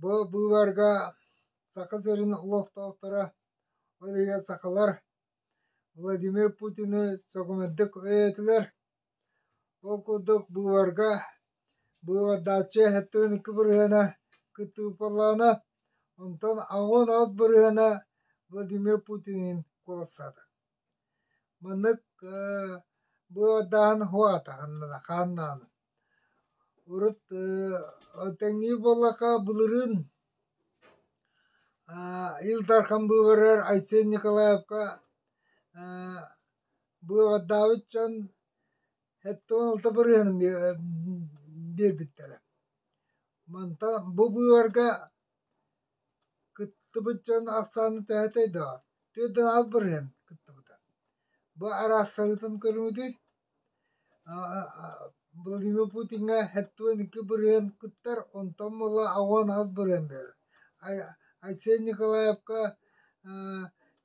Бу быыбарга Саха сирин олохтоохторо, ол иһигэр сахалар Владимир Путины сөҕүмэрдик өйөөтүлэр. Ол курдук быыбарга быыбардааччы сэттэ икки бырыһыана кыттыылпалаана, онтон аҕыс бырыһыана Владимир Путинин куоластаата Маннык бу ордааһын оһуо атаҕын хааннаан урут тэҥнии буоллахха былырыын Ил Дархан быыбарыгар Айсен Николаевка быыбардаабыт дьон сэттэ уон алта барыһыаны биэрбиттэрэ. Мантан бу быыбарга Кыттыбыт дьон ахсаана төһөтэй даҕа? Төрдүн аҕыс бырыһыан кыттыбыта. Бу араас санаатын көрүҥүтүт Владимир Путиҥҥа сэттиэн икки бырыһыан кыттар, онтон буола аҕыан аҕыс бырыһыан биэрэр. Айсен Николаевка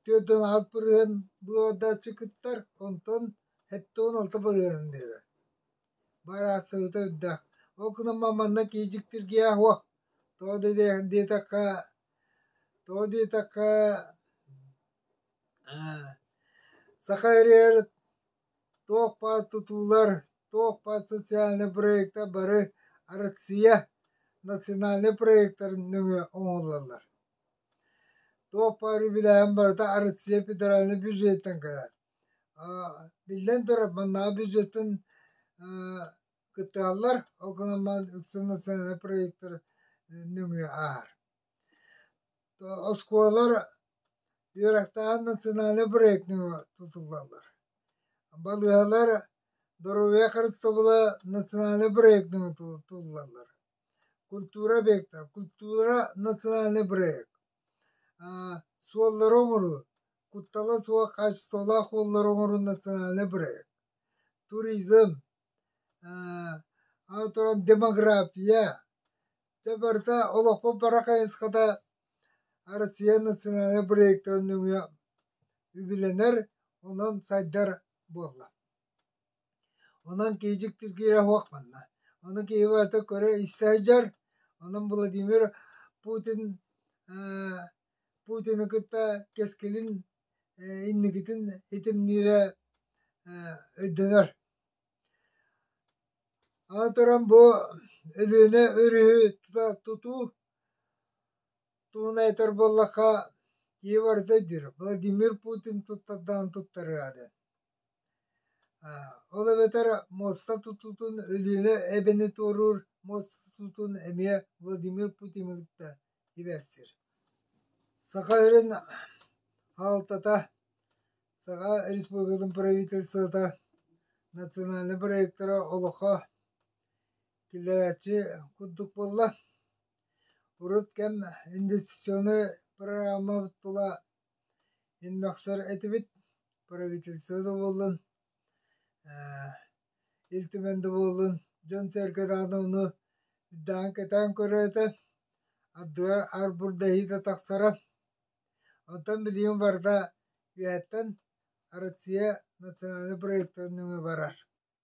төрдүн аҕыс бырыһыан буруордааччы кыттар, онтон сэттиэн алта бырыһыан биэрэр Бу араацыһыта үрдэ. Ол гынан манна киижиктиргиэ аһуо. Тоҕо диэтэххэ, тоҕо диэтэххэ, саха ырыар туох баар тутуулар, туох баар социальнай проектар бары Россия национальнай проектарын нөҥүө оҥоһуллаллар. Туох баар үбүлээһин барыта Россия федеральнай бюджеттан кэлэр. Биллэн турар, маннааҕы бюджеттан кыттыһаллар, ол гынан үксүн национальнай проектар нөҥүө ааһар. Оскуолалар үөрэхтээҕин национальнай проект нөҥүө тутуллаллар. Балыыһалар доруобуйа харыстабыла национальнай проект нөҥүө тутуллаллар. Культура объектара, культура национальнай проект. Суоллары оҥоруу куттала суох хаачыстыбалаах уоллары оҥоруу национальнай бырайыак. Туризм, аны туран демография, дьэ барыта олохпут бара хайысхата Россия национальнай бырайыактарын нөҥүө үбүлэнэр, онон сайдар буолла. Онон киһидьик тиргиирэ суох манна. Ону киһи барыта көрө-истэ сылдьар. Онон Владимир Путин э, Путины кытта кэскилин э, инникитин итимниирэ э, өйдөнөр. Аны туран бу Өлүөнэ өрүһү тута тутуу туһун айтар буоллахха киһи барыта өйдүүр Владимир Путин туттардаҕын туттарыа диэн. Ол эбэтэр муоста тутуутун Өлүөнэ эбэни туоруур муоста тутуутун эмиэ Владимир Путин кытта түбэстир. Саха өрүн аалтата, Саха Республикатын правительствота национальнай проектара олохо киллэрээччи курдук буолла. Урут кэм инвестиционнай программабыт тула Мин мөхсөр этибит правительство да буоллун ээ Ил Түмэн да буоллун дьон-сэргэ даҕаны ону үрдээн-кэтээн көрөөтө ардыгар арбурдаһыыта тахсара оттон билигин барыта үйэттэн Россия национальнай проектар нөҥүө барар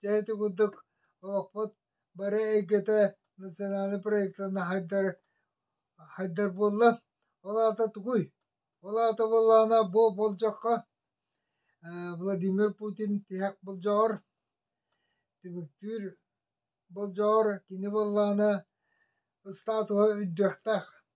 Дьэ ити курдук олохпут бары эйгэтэ национальнай проектан хайдар хайдар буолла. Ол аата тугуй? Ол аата буоллаҕына бу болдьоххо Владимир Путин тиһэх болдьоҕор, түмүктүүр болдьоҕор кини буоллаҕына статуһа үрдүөхтээх.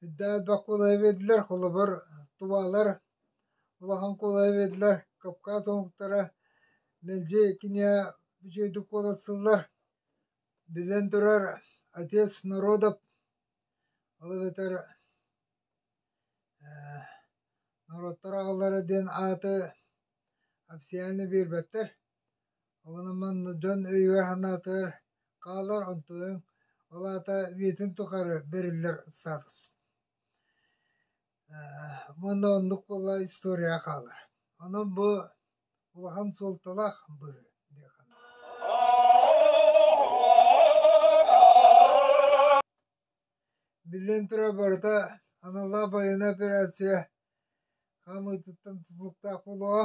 Һирдээт баккулайа биэрдилэр, холобур, тувалар улахан куолайы биэрдилэр, Кавказ омуктара мэлдьи кинигэ үчүгэйдик куоластыыллар. Биллэн турар, отец народов, ол эбэтэр э, норуоттар аҕалара диэн ааты официально биэрбэттэр. Олорон манна дьон өйүгэр-санаатыгар хаалар, онтуйан, ол аата үйэтин тухары бэриллэр статус. Уонна оннук буолла историяҕа хаалар. Онон бу улахан суолталаах быһыы дии Биллэн турар, барыта аналлаах байыаннай операция хаамыытыттан тутулуктаах буолуо.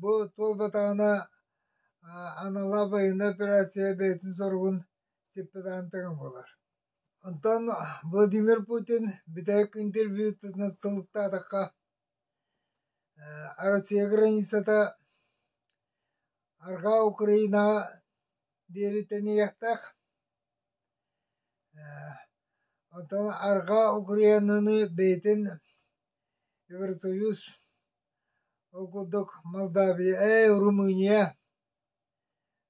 Бу туолбатаҕына анала байыны операция бэйэтин соругун сиппит аантыгын булар. Онтон Владимир Путин бүтэһик интервьютытынан сылыктаатахха Россия границата Арҕаа Украинаҕа диэри тэнийиэхтээх. Оттон Арҕаа Украинаны бэйэтин Евросоюз Ол курдук Молдавия, э, Румыния,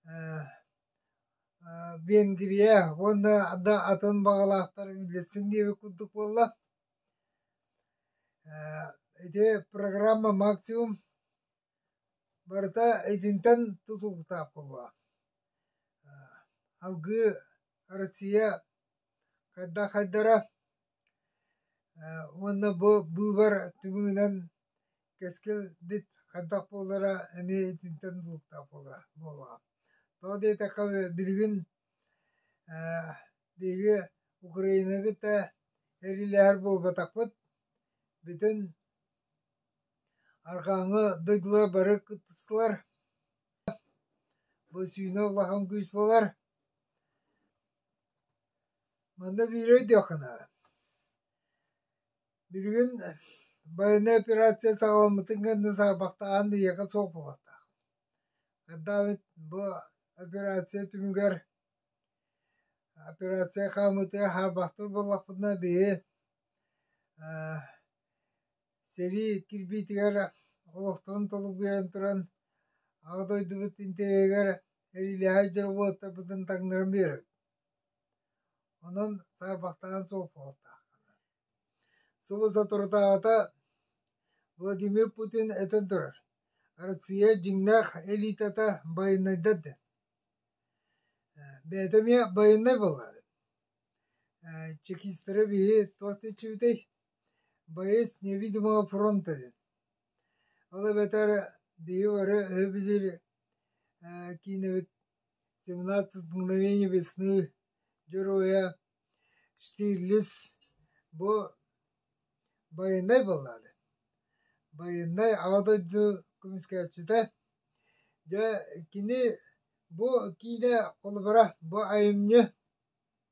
э, э, Венгрия уонна да атын баҕалаахтарын билэсин диэбит курдук буолла. Ити программа максимум барыта итинтэн тутулуктаах буолуо. Алгыы Россия хайдах хайдара Уонна бу быыбар тымыынан кэскилбит хайдах буолара эмиэ итинтэн булуктаах буолуоҕа. Тоҕо диэтэххэ билигин биһиги Украина кытта эриилээһэр буолбатахпыт, бүтүн арҕааҥҥы дойдулар бары кыттыстылар, бу сүүнэ улахан күүс буолар. Манна биири өйдүөххүнэ, билигин байыаннай операция саҕаламмытын кэннэ саарбахтааһын биһиэхэ суох буолуохтаах. Хайдах эбит бу операция түмүгэр операция хаамыытыгар саарбахтыыр буоллахпытына биһи Сэрии кирбиитигэр олохторун толугуйан туран, Аҕа дойдубут интэриэһигэр эриилээһи дьоруойдарбытын таҥнаран биэрэбит. Онон саарбахтаан суох буолуохтааххына. Субу соторутааҕыта Владимир Путин этэн турар, Россия дьиҥнээх элитата байынайдар диэн. Бэйэтэ эмиэ байынай буолла. Чекистэрэ биһи туох да иччибитэй? Боец невидимого фронта диэн. Ол эбэтэр биһи бары өһүбүтүр киинэбит «Семнадцать мгновений весны» дьоруойа Штирлиц бу байыаннай баллааны, байыаннай Аҕа дойду көмүскээччитэ. Дьэ, кини бу киинэ холобура, бу айымньы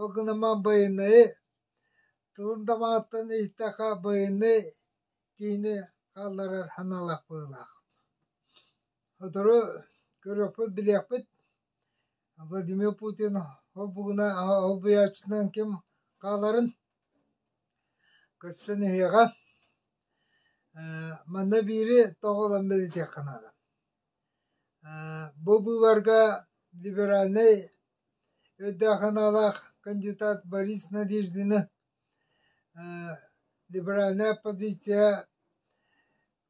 Ол гынан байанайы тылын дамааттан иһиттэххэ байанай киһини хаалларар санаалаах быһыылаах. Сотору көрүөхпүт, билиэхпит Владимир Путин ол бугуна ол быйааччытынан ким хааларын көрсөн иһиэҕэ. Манна биири тоҕолон бэлитиэххэ наада. Бу быыбарга либеральнай өйдөөх аналаах кандидат Борис Надеждины либеральная оппозиция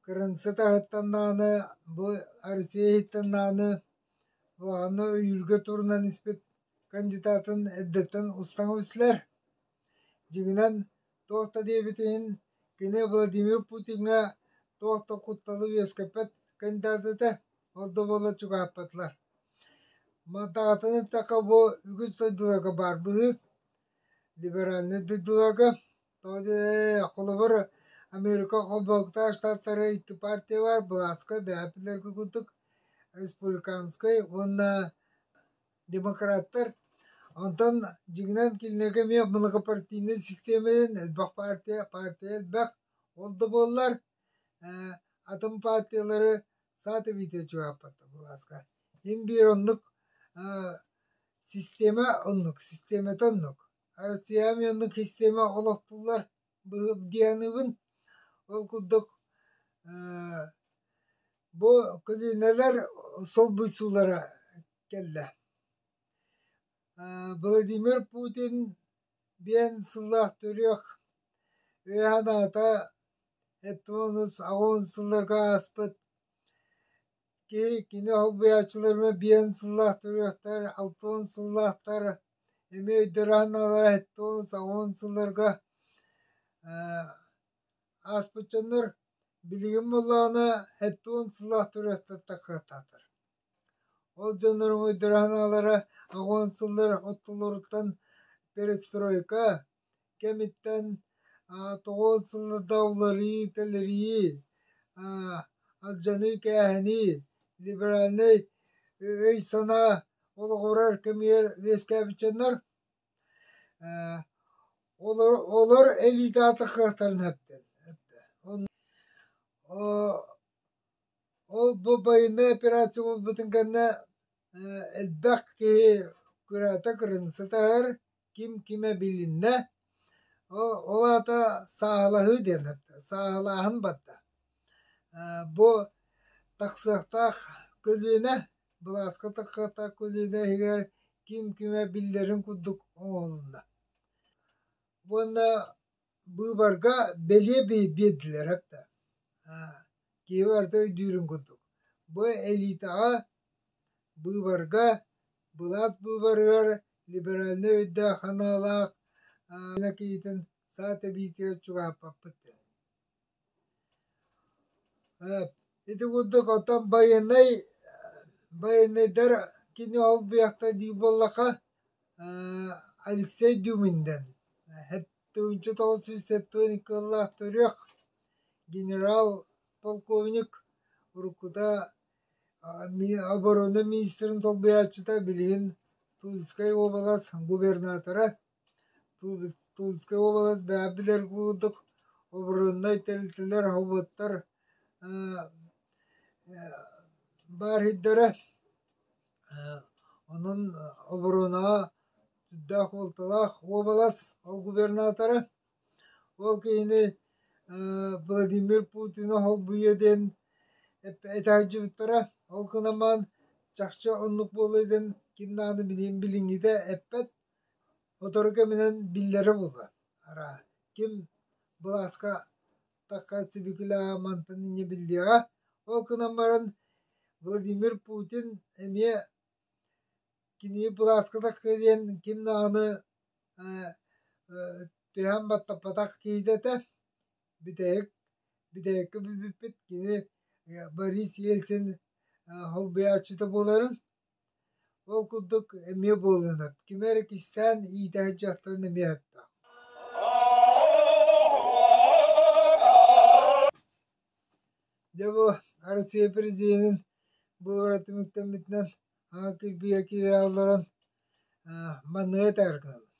кырынсы таһыттан даҕаны бу Россия иһиттэн даҕаны улаханна өйүүргэ турунан испит кандидатын эрдэттэн устан билсилэр Дьиҥинэн, туох да диэбит иһин, кини Владимир Путиҥҥа туох да кутталы үөскэппэт кандидат этэ, ол да буоллар чугаһаппатылар. Мантаҕытын эттэххэ, бу үгүс дойдуларга баар быһыы. Либеральнай дойдуларга, тоҕо диэтэҕинэ, холобур, Америка Холбоһуктаах Штаттара икки партия баар, былааска, бэһэпилэргэ курдук, республиканскай уонна демократтар Онтон дьиҥинэн кинилэргэ эмиэ многопартийнай систиэмэнэн элбэх партия, партия элбэх. Ол да буоллар атын партиялары саата биитэ чугааппатта былааска. Им биир оннук система оннук, системата оннук. Россиями оннук система олохтуллар дианыбын. Ол курдук бу көлүнэлэр солбуйсуулара кэллэ Владимир Путин диэн сыллаах төрүөх үөһэ наата эттэ уонна аҕыс сылларга ааспыт киһи кини холбуйааччыларына биэн сыллаах төрүөхтэр алта уон сыллаахтар эмиэ өйдөрө аналлара эттэ уон сылларга ааспыт дьоннор билигин буоллаҕына эттэ уон сыллаах төрүөхтэр тахсыахтаахтар Ол дьоннор муойдара санаалара агон сыллар оттолоруттан перестройка кэмиттэн тоҕуон сылларда уларыы тэлэрии алдьаныы кээһэнии либеральнай өй-санаа олоҕурар кэмигэр үөскээбитчэннэр олор элиитэ аата кыахтарын эптэ Ол бу байынай операция буолбутун кэннэ э, элбэх киһи кыраата кырын сытар, ким кимэ билиннэ. Ол ол аата сааһылаһыы диэн сааһылааһын барда. Э, бу тахсыахтаах көлүөнэ, былааска тахсыахтаах көлүөнэ иһигэр ким кимэ биллэрин курдук оҥоһулунна. Уонна быыбарга бэлиэ биэрдилэр да киһи барыта өйдүүрүн курдук бу элитаҕа быыбарга былаас быыбарыгар либеральнай өйдөөх санаалаах киһитин саа тэбиитигэр чугаһаппаппыт Ити курдук оттон байыаннай байыаннайдар кини олбуйахта дии буоллаха Алексей Дюминдэн тыһыынча тоҕус сүүс сэттиэн икки сыллаах төрүөх генерал полковник уруккута оборона министрин солбуйааччыта билигин Тульскай уобалас губернатора Тульская область бэйэбдилэр курдук обороннай тэрилтэлэр, хоботтор баарыйдара онон оборонаҕа сүрдээх уолталаах уобалас ол губернатора ол киһини Владимир Путина холбуйуо диэн этэһэлдьибиттэрэ ол гынан баран чахчы оннук буолуо диэн ким наада билиэн билиҥҥитэ эппэт Сотору кэминэн биллэрэ буолла, араа, ким былааска такка сибикилэҕэ мантан инньэ биллиэҕэ, ол гынан баран Владимир Путин эмиэ кини былааска такка диэн ким даҕаны түһээн баттаппатах киһитэ этэ, бүтэһик, бүтэһиккэ бүлбүппүт, кини Борис Ельцин солбуйааччыта буоларын Ол курдук эмиэ буоллунар, кими эрэ кистээн иитээт дьахтарын эмиэ аһаттаҕа Дьэ бу Арассыыйа президенин бу бара түмүктэммитинэн аҕа кирбигэ киирэ олорон маныа этээр гынабын.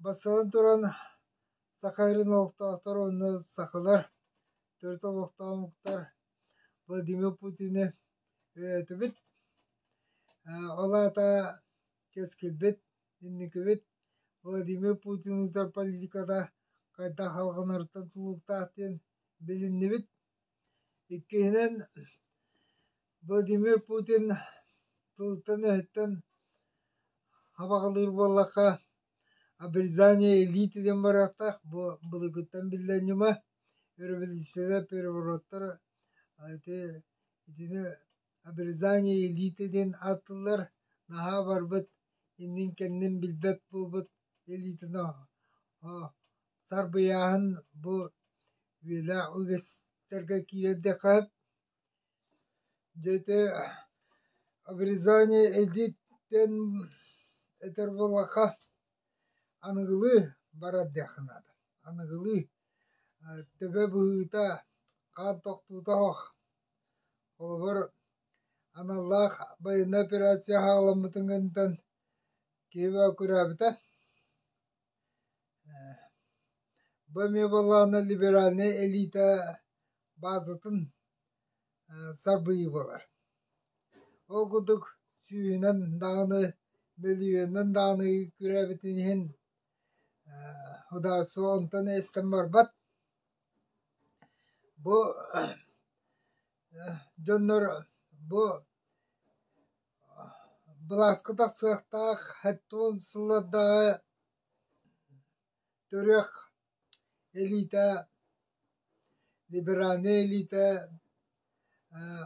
Бастатан туран, саха ирин олохтоохторо уонна сахалар төрүт олохтоохтор Владимир Путины өйөөтүбүт, ол аата кэскилбит, инникибит Владимир Путин ыытар политиката хайдах салҕанарыттан тулуктаах диэн билиннибит. Иккиһинэн, Владимир Путин тылыттан-өһүттэн хабаҕалыыр буоллахха, Обрезание илиитинэн барыахтаах бу былыргыттан биллэн ньыма өрөбөлүүссүйэ перевороттор ити итини обрезание илиитинэн ааттыыллар наһаа барбыт иннин-кэннин билбэт буолбут илиитин сарбыйааһын бу үйэлээх үгэстэргэ киирэрдиэххэ Дьэте обрезание эдиттэн этэр буоллахха аныгылыы барар диэххэ наада. Аныгылыы төбө быһыыта, хаан тохтуута оһох. Холобур, аналлаах байыаннай операция ааламмытын кэнниттэн киһи бөккүрээбитэ. Бу эмиэ буоллаҕына либеральнай элиитэ базатын сабыйбалар. Ол курдук сүүһүнэн даҕаны, мөлүйүөнүнэн даҕаны күрээбитин иһин судаарыстыба онтон эстэн барбат. Бу дьоннор бу Былааска тахсыахтаах хедфон сыллардаҕы төрүөх элиитэ, либеральнай элиитэ ээ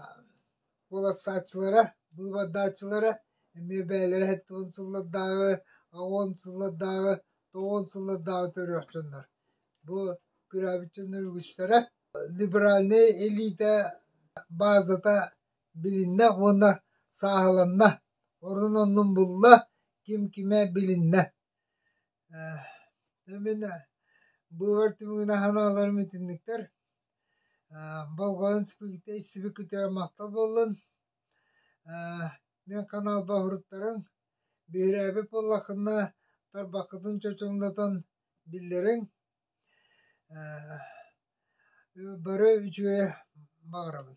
уолаттааччылара, быыбардааччылара эмиэ бэйэлэрэ хедфон сыллардааҕы, оҕуон сыллардааҕы, тоҕуон сыллардааҕы төрүөх дьоннор. Бу төрөөбүт дьоннор үгүстэрэ либеральнай элиитэ базата билиннэ уонна сааһыланна, ордун оннун булла, ким кимэ билиннэ. Э, мин бывар түмүгүнэ санааларым итинниктэр. Э, болҕойон сипикитэ истибикитигэр махтал буоллун. Э, мен канал баһырыттарың биһирээби поллахынна тарбаккытын чочоҥнотон биллериң Бары үчүгэйэ баҕарабын